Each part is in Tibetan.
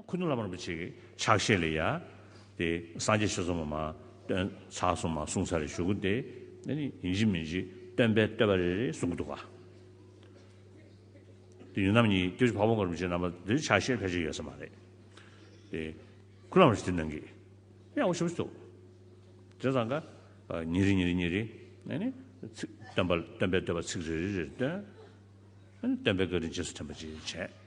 ཁུ་ནུ་ལ་མར་པོ་ཆེ་གི་ཕྱག་བཞེས་ལས་ཡ། དེ་སངས་རྒྱས་ཆོས་གསུམ་མ། སྟོན། ཕྱག་གསུམ་མ་གསུངས་ཚར་རེ་ཞུ་གུ་དེ། ནི་ནི་ཡིན་གཅིག་མིན་གཅིག་སྟོན་པས་བསྟོད་པ་རེ་རེ་གསུང་གི་འདུག་ག། དེ་ཡུལ་རྣམ་གཉིས་ཀྱི་བ་བོ་མགར་པོ་ཆེ་རྣམ་པ་དེ་ཕྱག་བཞེས་ཕལ་ཆེར་ཡོད་ས་མ་རེད། དེ། ཁུ་ལ་མར་ཆེ་དེ་ནང་གི། ཡག་པོ་ཞུ་བཞི་འདུག། དེ་ཙང་ག། ཉིན་རེ་ཉིན་རེ་ཉིན་རེ། ནི་ནི། ཚིག། སྟོན་པ་སྟོན་པས་བསྟོད་པ་ཚིག་རེ་རེ་རེ་སྟོན། ནི་ནི་སྟོན་པས་བཀའ་དྲིན་རྗེས་སུ་དྲན་པ་བཅས་བྱས།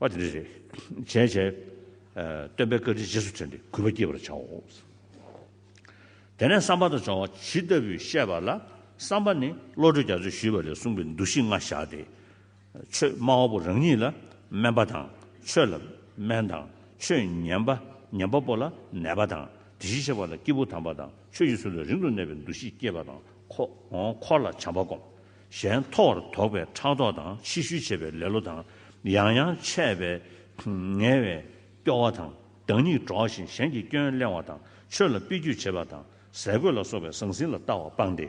པ་དེ་རེ་རེ་བྱས་བྱས། སྟོན་པའི་བཀའ་དྲིན་རྗེས་སུ་དྲན་ཏེ་གུས་པ་བསྐྱེད་པར་བྱའོ། དེ་ནས་བསམ་པ་དང་སྦྱོང་བ་ཇི་ལྟ་བུས་བཤད་པ་ལ་བསམ་པ་ནི་བློ་གྲོས་རྒྱ་མཚོས་ཞུས་པ་ལས་གསུངས་པའི་འདུ་ཤེས་ལྔ་བཞག་སྟེ། ཆོས་སྨྲ་བ་པོ་རང་ཉིད་ལ་སྨན་པ་དང་ཆོས་ལ་སྨན་དང་ཆོས་ཉན་པ་ཉན་པ་པོ་ལ་ནད་པ་དང་དེ་བཞིན་གཤེགས་པ་ལ་སྐྱེས་བུ་དམ་པ་དང་ཆོས་ཀྱི་ཚུལ་ལ་རིང་དུ་གནས་པའི་འདུ་ཤེས་བསྐྱེད་པ་དང་འཁོར་ལ་བྱམས་པ་བསྒོམ། གཞན་མཐོ་བར་དོགས་པའི་ཕྲག་དོག་དང་ཕྱི་ཤུལ་བྱེད་པའི་ལེ་ལོ་དང་ཡང་ཡང་ཆད་པས་ངལ་བའི་སྐྱོ་བ་དང་བདག་ཉིད་གྲོགས་བཞིན་གཞན་གྱི་སྐྱོན་གླེང་བ་དང་ཆོས་ལ་དཔེ་བརྒྱུད་བྱེད་པ་དང་ཟས་གོས་ལ་སོགས་པའི་ཟང་ཟིང་ལ་ལྟ་བ་སྤངས་ཏེ།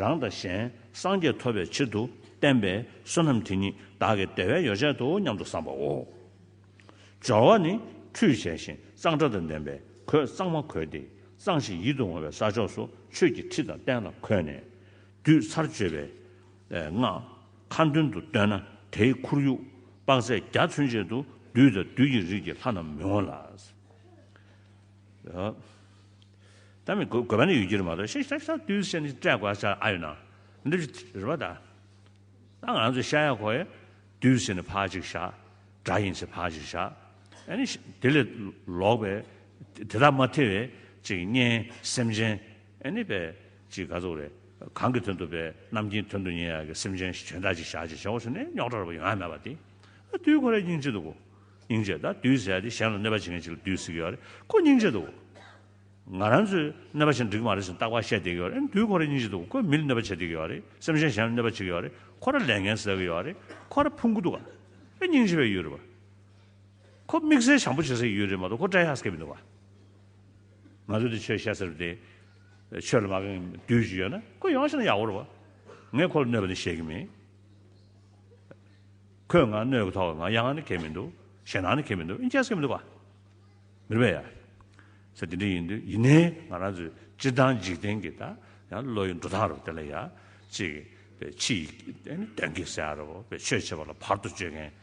རང་དང་གཞན་སངས་རྒྱས་ཐོབ་པའི་ཕྱིར་དུ་བསྟན་པའི་བསོད་ནམས་དེ་ཉིད་བདག་གི་བདེ་བའི་ཡོ་བྱད་དོ་སྙམ་དུ་བསམ་པའོ། སྦྱོར་བ་ནི་ཁྲུས་བྱས་ཤིང་གཙང་སྦྲ་དང་ལྡན་པས་གོས་གཙང་མ་གོས་ཏེ་གཙང་ཞིང་ཡིད་དུ་འོང་བའི་ས་ཕྱོགས་སུ་ཆོས་ཀྱི་ཁྲི་དང་སྟན་ལ་འཁོད་ནས། བསྡུས་ཚར་བརྗོད་པའི་སྔགས་ཁ་མདུན་དུ་བཏོན་ན་དེའི་ཁོར་ཡུག་དཔག་ཚད་བརྒྱ་མཚོན་བྱེད་དུ་བདུད་དང་བདུད་ཀྱི་རིས་ཀྱི་ལྷ་རྣམས་མི་འོང་ལ། ད་མི་དགོས་པ་ནི་ཡོད་ཀྱི་རེད་མ་གཏོགས་ཤ་ཤ་ཤ་བདུད་བསད་ནི་སྤྲད་དགོས་ས་ཨ་ཡོད་ན་འདི་རེད་པ་ད། ད་ང་ཚོས་ཤ་ཡ་ཁོ་ཡ་བདུད་བསད་ནི་ཕག་ཅིག་བཞག་དགྲ་ཡིན་ཚེ་ཕག་ཅིག་བཞག་ཨ་ནི་དེ་ལས་ལོག་པའི་དེ་དག་མ་ཐེ་བའི་ཅིག་གཉེན་སེམས་ཅན་ཨ་ནི་པའི། ཅིག་ག་ཚོགས་རེད། གང་གི་དོན་དུ་བས་རྣམ་ཀྱིན་དོན་དུ་ཉན་ཡག་གི་སེམས་ཅན་ཞིག་བྱོན་ད་ཅིག་བཞག་ཅིག་བྱའོ་ཟེར་ནས་རྙོག་དྲ་རུ་བ་ཡོང་ཡ་མེད་པ་དེ། དུས་ཁོ་རེ་སྙིང་རྗེ་འདུག་གོ། སྙིང་རྗེ་ད་དུས་ཟེར་ཡ་དེ་གཞན་ལ་གནོད་པ་བྱེད་མཁན་ཅིག་ལ་དུས་ཟེར་གི་ཡོད་རེད་ཁོ་སྙིང་རྗེ་འདུག་གོ། ང་རང་ཚོས་གནོད་པ་བྱེད་འགྲིག་གི་མ་རེད་ཟེར་ནས་རྟག་པར་བཤད་བསྡད་ཀྱི་ཡོད་རེད་དུས་ཁོ་རེ་སྙིང་རྗེ་འདུག་གོ་ཁོས་མི་ལ་གནོད་པ་བྱེད་བསྡད་ཀྱི་ཡོད་རེད་སེམས་ཅན་གཞན་ལ་གནོད་པ་བྱེད་ཀྱི་ཡོད་རེད་ཁོ་ར་ལས་འགན་བཟོད་ཀྱི་ཡོད་རེད་ཁོ་ར་ཕུང་གི་འདུག་ག་རེ་སྙིང་རྗེ་བའི་ཡུལ་རེད་བ། ཁོ་དམིགས་བསལ་བྱམས་པོ་བྱེད་སའི་ཡུལ་རེད་མ་གཏོགས་ཁོ་བཀྲ་ཤག་སྐད་མི་འདུག་ག། ང་ཚོ་འདི་ཆོས་བཤད་ས་རེད་དེ། ཆོས་ལ་མ་དགའ་མཁན་མི་དུས་ཅིག་ཡོད་ན་ཁོ་ཡོང་ཕྱིན་ན་ཡག་པོ་རེད་བ། ངས་ཁོ་ལ་གནོད་པ་ནི་ཤེས་ཀྱི་མིན། ཁོས་ང་གནོད་ཀྱི་ཐོག་ང་ཡ་ང་ནི་གལ་མི་འདུག་ཞེ་སྣང་ནི་གལ་མི་འདུག་ཨིན་ཅེས་ཀྱི་མི་འདུག་བ། མི་རེད་བས་ཡ། ས་དེ་འདྲ་ཡིན་དུས་ཡིན་ནའི་ང་རང་ཚོའི་སྤྱིར་བཏང་འཇིག་རྟེན་གྱི་ད་ཡང་བློ་ཡི་འགྲོ་སྟངས་རེད་བ་དེ་ལ་ཡ། ཅིག། བས་ཕྱི་ཡི་དོན་གྱིས་ས་ཡ་རེད་བ། བས་ཆོས་བྱེད་པ་ལ་བར་དུ་གཅོད་མཁན།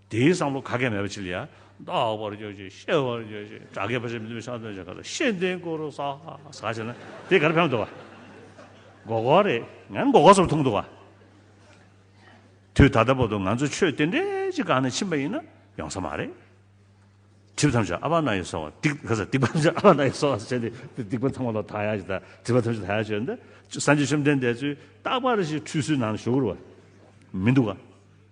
དེའི་བསམ་བློ་ག་གེ་མེད་པ་ཅི་ལ་ཡ། བདག་བར་གྱུར་ཅིག་གཤེགས་བར་གྱུར་ཅིག་དགྲ་བགེགས་བར་ཆད་མི་མཐུན་བཤགས་བསྟོད་བྱ་ག་ལ་ཤེས་ལྡན་དགུ་རུ་ཟ། ཟ་བྱས་ན་དེ་གར་ཕེབས་འདུག་བ། མགོ་སྐོར་རེད་ངས་མགོ་སྐོར་སོར་ཐུག་འདུག་བ། དུས་ད་ལྟ་བར་དུ་ང་ཚོ་ཆོས་དེ་འདྲའི་ཅི་གང་ནས་ཕྱིན་པ་ཡིན་ན་ཡོང་ས་མ་རེད། གྲིབ་ཐམས་ཅད་ཨ་བ་ན་ཡོ་སོ་བ་སྡིག་ག་ས་སྡིག་པ་ཐམས་ཅད་ཨ་བ་ན་ཡོ་སོ་བ་བྱས་ཏེ་སྡིག་པ་ཚང་མ་ལ་དག་ཡ་ཞིག་དང་གྲིབ་པ་ཐམས་ཅད་དག་ཡ་ཞིག་ཡོད་ན་སངས་རྒྱས་བཅོམ་ལྡན་འདས་ཚོས་རྟག་པར་ཞིག་ཁྲུས་གསོལ་ནང་ཞུགས་རུ་བ་མི་འདུག་བ།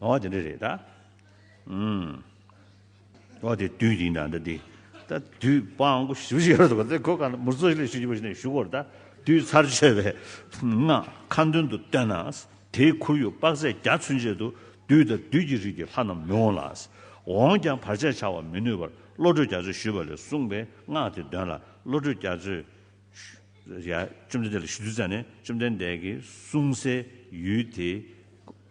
འོ་དེ་འདྲ་རེད་ད། འོ་དེ་དུས་དེའི་ནང་ད་དེ། ད་དུས་དཔང་པོ་ཞུ་བཞིན་ཡོད་རེད་ད། གོ་གང་མུར་ཚོ་ལས་ཞུ་རྒྱུ་བ་ཞིག་ནས་ཞུ་གོ་རེ་ད། དུས་ཚར་གཅོད་པའི་སྔགས་ཁ་མདུན་དུ་བཏོན་ན། དེའི་ཁོར་ཡུག་དཔག་ཚད་བརྒྱ་ཚུན་ཆད་དུ་དུས་ད་དུས་ཀྱི་རིགས་ཀྱི་ལྷ་རྣམས་མི་འོང་ལ། འོངས་ཀྱང་བར་ཆད་བྱ་བར་མི་ནུས་པར་བློ་གྲོས་རྒྱ་མཚོས་ཞུས་པ་ལས་གསུངས་པའི་སྔགས་དེ་འདོན་ལ་བློ་གྲོས་རྒྱ་མཚོས། བཅོམ་ལྡན་འདས་ལ་ཞུ་དུས་བཙལ་ནས་བཅོམ་ལྡན་འདས་ཀྱིས་གསུངས་སའི་ཡུལ་དེ།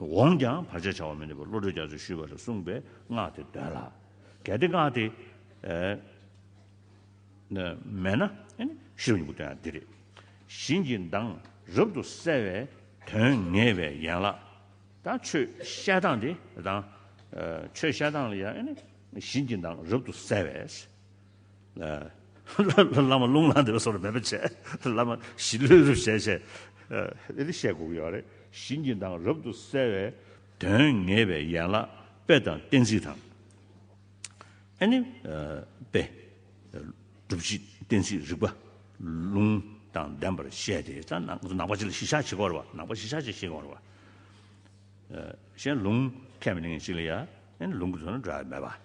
འོངས་ཀྱང་བར་ཆད་བྱ་བ་མི་ནུས་པར་བློ་གྲོས་རྒྱ་མཚོས་ཞུས་པ་ལ་གསུངས་པའི་སྔགས་དེ་འདོན་ལ། གལ་ཏེ་སྔགས་དེ། མེད་ན། ཤེས་རབ་གཉིས་པོ་བསྟན་ཡང་འདི་རེ། བཞིན་གྱི་མདངས་རབ་ཏུ་གསལ་བའི་དོན་ངེས་པའི་ཡན་ལག། དང་ཆོས་བཤད་སྟངས་དེ་དང། ཆོས་བཤད་སྟངས་ལ་ཡང། བཞིན་གྱི་མདངས་རབ་ཏུ་གསལ་བས། བླ་མ་རླུང་ལངས་འདེབས་པ་སོགས་ལ་མོས་པ་བྱས། བླ་མ་གཞི་ལུས་རུ་བྱས་བྱས། ཨེ་དེ་བཤད་དགོས་ཀྱི་ཡོད་རེད། བཞིན་གྱི་མདངས་རབ་ཏུ་གསལ་བས། དོན་ངེས་པའི་ཡན་ལག་དཔེ་དང་གཏན་ཚིགས་དང། ཨེ་ནི། དཔེ། སྒྲུབ་བྱེད་གཏན་ཚིགས་རིགས་པ། ལུང། དང་ལྡན་པར་བཤད་དེ། ད། ནང་པ་བྱེད་ལ་གཞི་བཞག་བྱེད་དགོས་རེད་བ། ནང་པ་གཞི་བཞག་བྱེད་ཤེས་དགོས་རེད་བ། གཞན། ལུང། ཁས་མི་ལེན་མཁན་གཅིག་ལ་ཡ། ཨེ་ལུང་གི་དོན་ནི་འདྲ་བས་མེད་པ།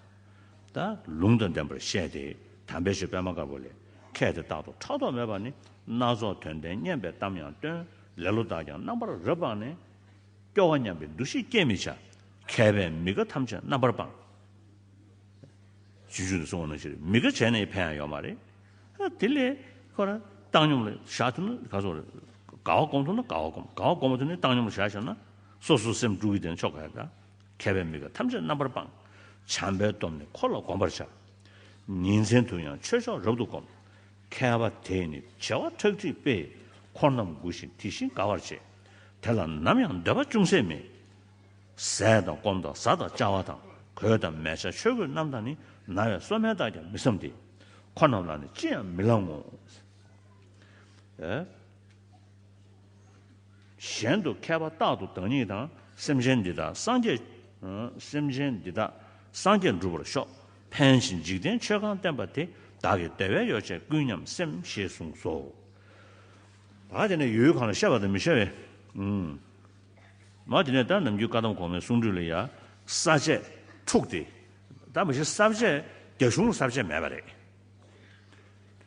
ད་ལུང་དང་ལྡན་པར་བཤད་དེ། དམ་པའི་ཆོས་པད་མ་དཀར་པོ་ལས། མཁས་དེ་རྟག་ཏུ་ཕྲག་དོག་མེད་པར་ནི། སྣ་ཚོགས་དོན་ལྡན་སྙན་པའི་གཏམ་ཡང་སྟོན། ལེ་ལོ་དག་ཀྱང་རྣམ་པར་རབ་སྤངས་ནས། སྐྱོ་བ་སྙམ་པའི་འདུ་ཤེས་སྐྱེད་མི་བྱ། མཁས་པས་མི་དགའ་ཐམས་ཅད་རྣམ་པར་སྤངས། རྗེས་འཇུག་ནི་གསུང་བ་ན་ཤེས། མི་དགའ་བྱས་ན་ཡི་ཕན་ཡང་ཡོད་མ་རེད། དེ་ལས། ཁོ་ན་བཏང་སྙོམས་ལ་བཞག་ཐུབ་ན་ག་ཚོད་རེད། དགའ་བ་སྒོམ་ཐུབ་ན་དགའ་བ་སྒོམ། དགའ་བ་སྒོམ་མ་ཐུབ་ནི་བཏང་སྙོམས་ལ་བཞག་ཤོར་ན། སོ་སོའི་སེམས་དཀྲུགས་ཀྱི་དེ་ནི་ཆོ་ག་རེད། མཁས་པས་མི་ག་ཐམས་ཅད་རྣམ་པར་སྤང། བྱམས་པའི་སྟོབས་ནི་འཁོར་ལ་བསྒོམ་པར་བྱ། ཉིན་མཚན་དུ་ཡང་ཆོས་མཆོག་རབ་ཏུ་བསྒོམ། མཁས་པ་དེས་ནི་བྱེ་བ་ཁྲག་ཁྲིག་སྤེལ། འཁོར་རྣམས་མགུ་ཞིང་དེ་བཞིན་དགའ་བར་བྱེད། དེ་ལ་ནམ་ཡང་འདོད་པ་ཅུང་ཟད་མེད། ཟས་དང་སྐོམ་དང་བཟའ་དང་བཅའ་བ་དང། གོས་དང་མལ་ཆ་ཆོས་གོས་རྣམས་དང་ནི། ན་བའི་སོ་སྨན་དག་ཀྱང་མི་བསམ་སྟེ། འཁོར་རྣམས་ལ་ནི་ཅི་ཡང་མི་བླང་ངོ། གཞན་དུ་མཁས་པ་རྟག་ཏུ་བདག་ཉིད་དང་སེམས་ཅན་འདི་དག་སངས་རྒྱས། སེམས་ཅན་འདི་དག་སངས་རྒྱས་འགྲུབ་པར་ཤོག། ཕན་ཞིང་འཇིག་རྟེན་ཆོས་གང་བསྟན་པ་དེ་བདག་གི་བདེ་བའི་ཡོ་བྱད་ཀུན་སྙམ་སེམས་ཞེས་གསུངས་སོ། བ་དེ་ནས་ཡུལ་གང་ལ་ཤར་བ་དང་མི་ཤར་བའི། མ་དེ་ནས་ད་ནམ་རྒྱུད་བཀའ་གདམས་གོང་མའི་གསུང་སྒྲོས་ལ་ཡང་ས་བཅད་དྲུག་སྟེ། ད་མ་གཞི་ས་བཅད་རྒྱ་གཞུང་ལ་ས་བཅད་མེད་པ་རེད།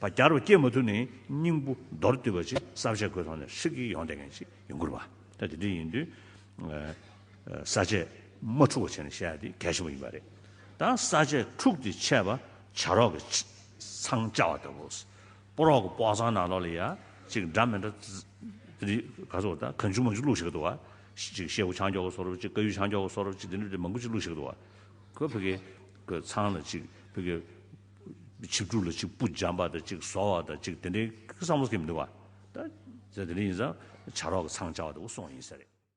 བ་བསྐྱར་བ་སྐྱེད་མ་ཐུབ་ནས་སྙིང་པོ་མདོར་བསྡུས་པ་ཅིག་བསམ་བཞག་གོས་ཐོག་ནས་ཧྲིག་གེ་ཡོང་བསྡད་མཁན་ཞིག་ཡིན་དགོས་རེད་པ། ད་དེ་འདྲ་ཡིན་དུས། ས་ཆས་མ་འཁྲུག་བ་བྱས་ནས་བཤད་ཡག་དེ་གལ་ཆེན་པོ་ཡིན་པ་རེད། ད་ས་ཆས་འཁྲུག་སྟེ་ཆད་པ་བྱ་རོག་གི་ཚང་བཅའ་བ་ལྟ་བུ། སྤོ་རོག་གི་སྤོག་ཚང་ནང་ལོགས་ལ་ཡ་གཅིག་འདྲ་མི་འདྲ། དེ་རིགས་ག་ཚོད་ད་གང་བྱུང་མང་བྱུང་བླུགས་ཤིག་འདུག་བ། གཅིག་ཤེ་བོ་ཆང་འགྱོག་གི་སོ་རུབ་གཅིག་ཀ་ཡུ་ཆང་འགྱོག་གི་སོ་རུབ་གཅིག་དེ་འདྲ་འདྲ་མང་པོ་ཅིག་བླུགས་ཤིག་འདུག་བ། ཁོས་བོད་ཀྱི་གོས་ཚང་ལ་གཅིག་བོད་ཀྱི། ཆིག་དྲུག་ལ་གཅིག་སྤུ་འཇམ་པ་དང་གཅིག་བཟོ་བ་དང་གཅིག་དེ་འདྲའི་བསམ་བློ་ཐེབས་མི་འདུག་ག། ད། ཟེར་དེ་འདྲ་ཡིན་ཙང་བྱ་རོག་གི་ཚང་བཅའ་བ་དེ་འུ་སོང་ཡིན་ས་རེད།